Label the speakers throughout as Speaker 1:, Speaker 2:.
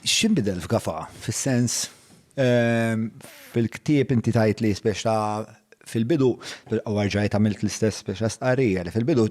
Speaker 1: X'inbidel f'Gafa? Fis-sens, fil-ktieb inti tgħid li spiex ta' fil-bidu, u rġajt għamilt l-istess spiex ta' stqarrija, li fil-bidu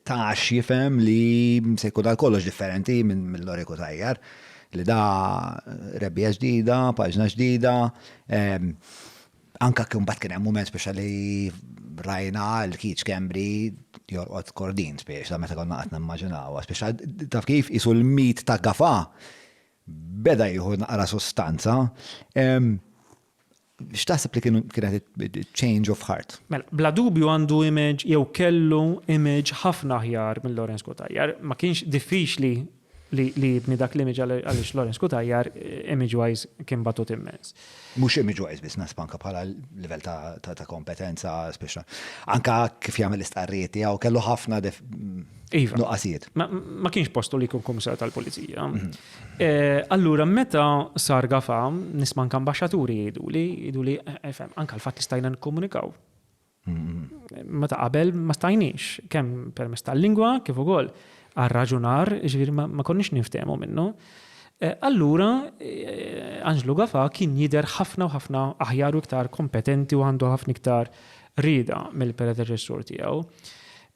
Speaker 1: tax jifhem li se jkun għal kollox differenti minn mill-Loriku Tajjar, li da rebbija ġdida, paġna ġdida, Anka kien bat kien hemm mument speċa li rajna l-kiċ kembri jorqod kordin speċa meta konna qed nimmaġinaw. Speċa taf kif isu l-mit ta' gafa beda jieħu naqra sostanza. X'taħseb li kienu kienet change of heart? Mela, bla dubju
Speaker 2: għandu image jew kellu image ħafna aħjar minn Lawrence Kotajjar. Ma kienx diffiċli li jibni dak l-image għaliex Lawrence Cutajar image wise kien batut immens. Mhux image wise
Speaker 1: biss naħseb anke bħala livell ta' kompetenza speċjal. Anke kif jagħmel l-istqarrijiet tiegħu kellu ħafna iva. nuqqasijiet. Ma kienx
Speaker 2: postu li jkun kummissarju tal-pulizija. Mhm. Eh, allura meta sar gafa nisma' anke ambaxxaturi jgħiduli, jgħiduli eh, eh, anke l-fatt li stajna nikkomunikaw. Ma ta' qabel ma stajniex, kemm permess tal-lingwa kif ukoll għar-raġunar, ġifieri ma konniex ninftehmu minnu. Eh, allura, eh, Anġlu Gafa kien jidher ħafna u ħafna aħjar u iktar kompetenti u għandu ħafna iktar rida mill-predeċessur tiegħu.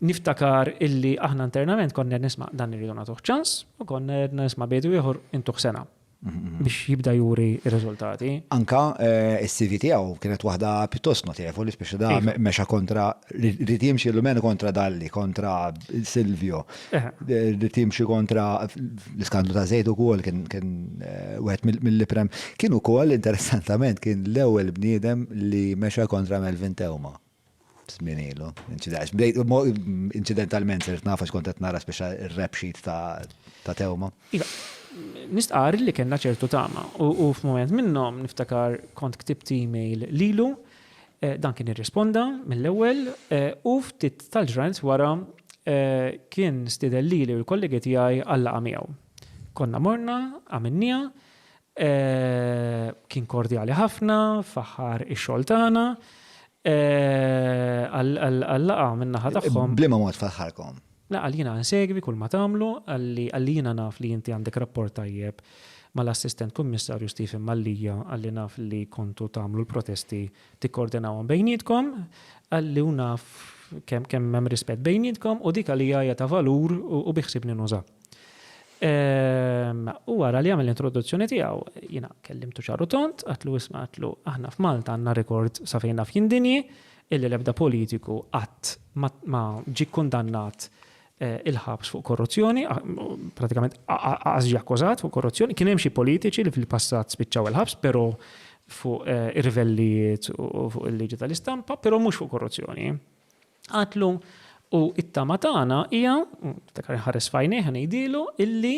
Speaker 2: Niftakar illi aħna internament konna nisma' dan irridu nagħtuh ċans u konna nisma' bejdu ieħor intuħ sena. biex jibda juri r-riżultati. Anke
Speaker 1: s-CV tiegħu kienet waħda pjuttost notevoli, speċi da mexa kontra rid jimxi l-lumen kontra Dalli, kontra Silvio, rid jimxi kontra l-iskandlu ta' żejt ukoll kien wieħed mill-iprem. Kien ukoll interessantament kien l-ewwel bniedem li mexa kontra Melvin Theuma. Żmien ilu, inċidentalment sirt naf għax kont qed nara speċa r-rap sheet ta' Theuma. Iva,
Speaker 2: nistqarr li kellna ċertu tama u f'mument minnhom niftakar kont ktibt email lilu, dan kien irrisponda mill-ewwel u ftit tal-ġranet wara kien stieden lili u l-kollegi tiegħi għal laqgħa miegħu. Konna morna, għamilnieha Kien kordjali ħafna, faħħar ix-xogħol tagħna għal-laqgħa min-naħa tagħhom. B'liema mod faħħarkom?
Speaker 1: Le, qal jiena insegwi
Speaker 2: kull ma tagħmlu, qalli qalli jiena naf li inti għandek rapport tajjeb mal-Assistent Kummissarju Stephen Mallia, qalli naf li kontu tagħmlu l-protesti tikkordinawhom bejnietkom, qalli u naf kemm hemm rispett bejnietkom u dik għalija hija ta' valur u biħsibni nuża. Ehm, u għara li għamil l-introduzzjoni tijaw, jina kellimtu ċarru tont, għatlu isma għatlu, aħna f'Malta għanna rekord safejna f'jindinji, illi lebda politiku għat ma ġi kundannat eh, il-ħabs fuq korruzzjoni, pratikament għazġi akkużat fuq korruzzjoni, kien hemm xi politiċi li fil-passat spiċċaw il-ħabs, pero fuq eh, irvellijiet u fuq il-liġi tal-istampa, pero mhux fuq korruzzjoni. Għatlu, U t-tama tagħna hija, niftakar inħares f'għajnejh u ngħidilu, illi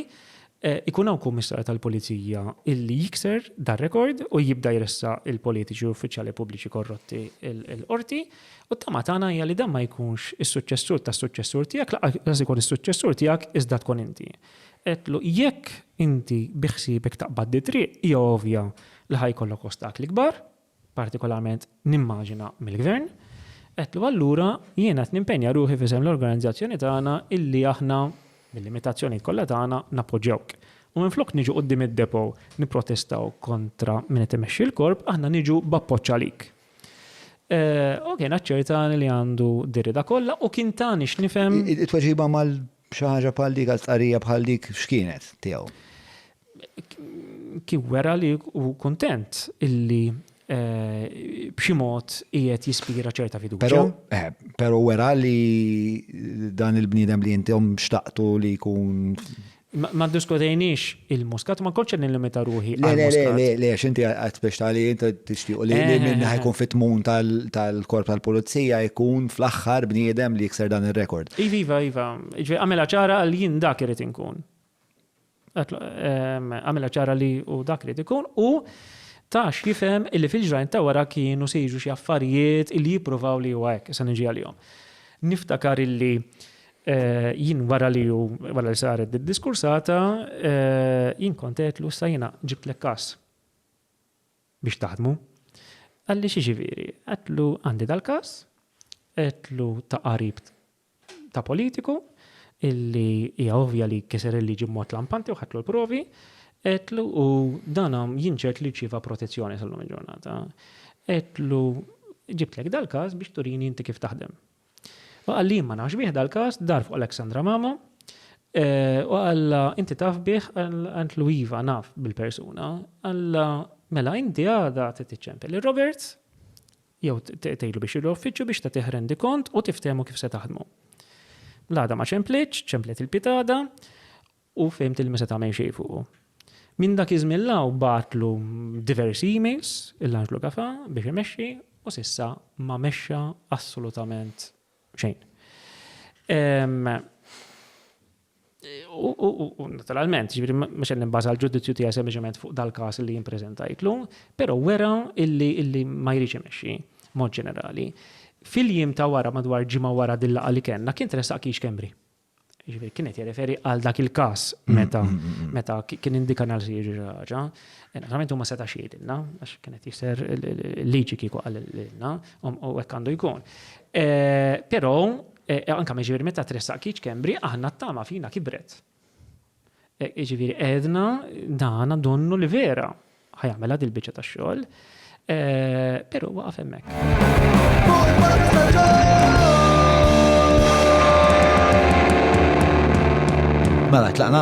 Speaker 2: jkun hawn Kummissarju tal-Pulizija illi jikser dar-rekord u jibda jressaq il-politiċi u uffiċjali pubbliċi korrotti l-Qorti, u t-tama tagħna hija li dan ma jkunx is-suċċessur tas-suċċessur tiegħek, lanqas ikun is-suċċessur tiegħek iżda tkun inti. Għedtlu, Jekk inti biħsiebek taqbad di triq, hija ovvja li ħa jkollok ostakli kbar, partikolarment nimmaġina mill-Gvern, għedtlu allura jiena qed nimpenja ruħi f'isem l-organizzazzjoni tagħna illi aħna, bil-limitazzjonijiet kollha tagħna, nappoġġjawk. U minflok niġu quddiem id-Depot nipprotestaw kontra min qed imexxi l-Korp, aħna niġu b'appoġġ għalik. Hogan aċċertani li għandu dir-rieda kollha u kien tani x'nifhem. It-tweġiba
Speaker 1: B'xi ħaġa bħal dik, għal stqarrija bħal dik, x'kienet tiegħu?
Speaker 2: Kien wera li hu kuntent illi b'xi mod qiegħed jispira ċerta fiduċja. Però, eh, però wera
Speaker 1: li dan il-bniedem li intom xtaqtu li jkun. Ma
Speaker 2: ddiskutejniex il-muskat, ma kolċ nil-limita ruħi. Le, le, le, le, le, xinti
Speaker 1: għat biex tali jinta tixtiqu li eh, minna eh, eh. jkun fit-tmun tal-korp tal-polizija jkun fl-axħar bniedem li jikser dan il-rekord. Iva, iva, iva,
Speaker 2: ġvi għamela ċara għal jien dak irrit inkun. Ehm, għamela ċara li u dak irrit ikun u tax jifem illi fil-ġrajn ta' wara kienu sejġu xie affarijiet illi jiprovaw li u għek, sa' nġi għal-jom. Niftakar illi Jien wara li hu wara li saret did-diskursata, jien kont għedtlu issa jiena ġibtlek każ biex taħdmu. Qalli x'jiġifieri? Għedtlu għandi dal-każ, għedtlu ta' qarib ta' politiku illi hija ovvja li kiser il-liġi b'mod lampanti u ħadtlu l-provi, għedtlu u dan jien ċert li rċieva protezzjoni sal-lum il-ġurnata. Għedtlu ġibtlek dal-każ biex turini inti kif taħdem. U qal jien ma nafx bih dal-każ, dar fuq Alexandra Mamo, u qallha inti taf bih, qaltlu iva naf bil-persuna, qallha mela inti għada trid tiċċempel lil Roberts jew tgħidlu biex jieħu uffiċċju biex tagħtih rendikont u tiftehmu kif se taħdmu. L-għada ma ċemplitx, ċemplet il-pitada, u fhimt li ma seta' għamel xejn fuqu. Minn dak iż-żmien 'l hawn bagħatlu diversi emails il-Anġlu Gafà biex imexxi u s'issa ma mexxa assolutament xejn. U naturalment, jiġifieri mhux qed nibbaża l-ġudizzju tiegħi sempliċement fuq dal-każ li jien preżentajtlu, però wera illi ma jridx imexxi b'mod ġenerali. Fil-jiem ta' wara madwar ġimgħa wara din-laqgħa li kellna kien tressaq Keith Schembri. Jiġifieri kien qed jirreferi għal dak il-każ meta meta kien indika nhar se jiġri xi ħaġa. Naturalment huma setax jgħidilna għax kien qed jisher liġi kieku qalilna u hekk għandu jkun. Però anke jiġifieri meta tressaq kiċ kembri aħna t-tama fina kibret. Jiġifieri għedna dan donnu li vera ħa jagħmilha dil-biċċa tax-xogħol, però waqaf hemmhekk.
Speaker 1: Mela tlaqna?